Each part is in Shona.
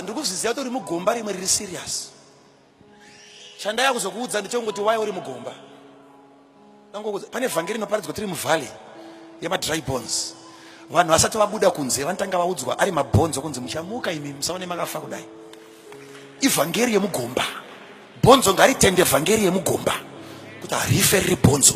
ndiri kuzviziva kuti uri mugomba rimwe riri serious chandaya kuzokuudza ndichongoti waya uri mugomba pane vhangeri rinoparidzwa tiri muvalley yemadry bones vanhu vasati vabuda kunze vanotanga vaudzwa ari mabhonzo kunzi muchamuka imi musaone makafa kudai ivhangeri yemugomba bhonzo ngaritende vhangeri yemugomba kuti harife riri bhonzo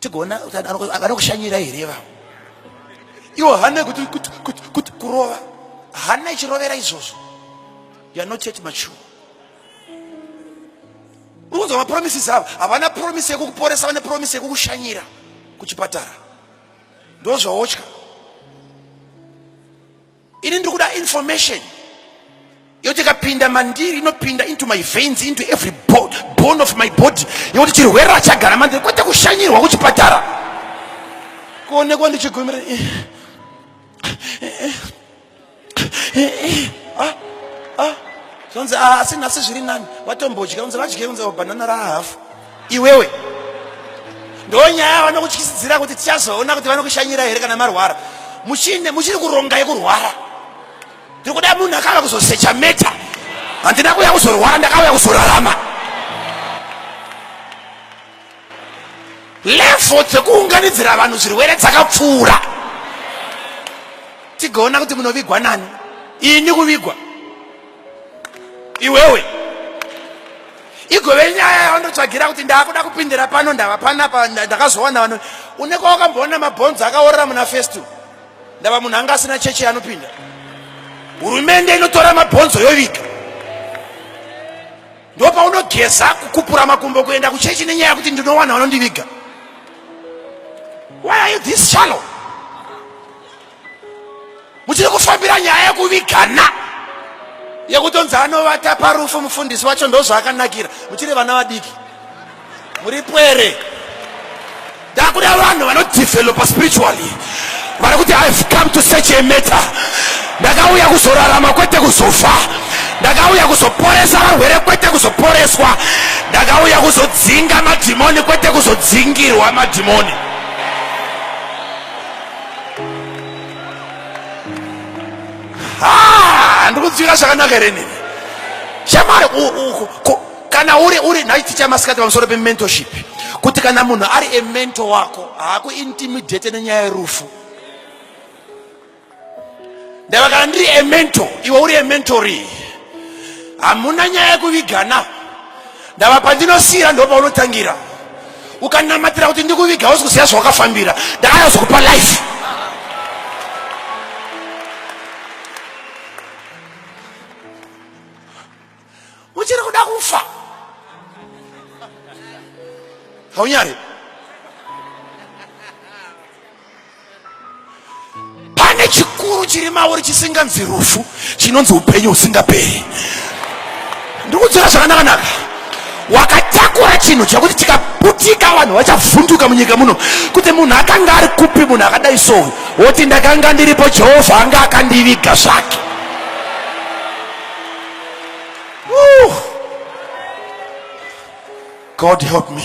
tigoona vanokushanyira here ivavo iwo hane kuti kurova hana ichirovera izvozvo youare not yet mature ukunzwa mapromises avo havana promise yekukuporesa vane promise yekukushanyira kuchipatara ndozvaotya ini ndiri kuda information yoti ikapinda mandiri inopinda into my veins into every bo bone of my body yekuti chirwere rachagara mandiri kwete kushanyirwa kuchipatara kuonekwa ndichigomera eh, eh, eh, ah, ah. zonzi ah, asi nhasi zviri nani vatombodya unzi vadye unzi banana rahafu iwewe ndonyaya vanokutyisidzira kuti tichazoona kuti vanokushanyira here kana marwara muchine muchiri kuronga yekurwara tiri kuda munhu akauya kuzosecha meta handina kuuya kuzorwara ndakauya kuzorarama levo dzekuunganidzira vanhu zvirwere dzakapfuura tigoona kuti munovigwa nani ini kuvigwa iwewe igove nyaya yavandotsvagira kuti ndaakuda kupindira pano ndava panapa ndakazowana vano une kwawakamboona mabhonzo akaorera muna festu ndava munhu anga asina chechi yanopinda hurumende inotora mabhonzo yoviga ndo paunogeza kukupura makumbo kuenda kuchechi nenyaya yekuti ndinowana vanondiviga why are you this shallow muchiri kufambira nyaya yekuvigana yekutonzi anovata parufu mufundisi wacho ndozvaakanakira muchiri vana vadiki muri pwere ndakuda vanhu vanodevelopa spiritually vari kuti ihave come to search a matter ndakauya kuzorarama kwete kuzofa ndakauya kuzoporesa varwere kwete kuzoporeswa ndakauya kuzodzinga madhimoni kwete kuzodzingirwa madhimoni ah, ndikudzika zvakanaka here nini shamari kana uri uri nhai ticha masikati pamusoro pementorship kuti kana munhu ari emento wako haakuintimidate nenyaya yerufu ndava kana ndiri emento iwe uri ementori hamuna nyaya yekuvigana Ndava pandinosiira ndopaunotangira ukanamatira kuti ndikuviga hausi kuziva zvawakafambira ndakanazokupa life uchiri kuda kufa haunyari pane chikuru chiri mauri chisinganzi rufu chinonzi upenyu husingaperi ndikudzora zvakanakanaka wakatakura chinhu chakuti tikaputika vanhu vachavhunduka munyika muno kuti munhu akanga ari kupi munhu akadai souyu woti ndakanga ndiripo jehovha anga akandiviga zvake god help me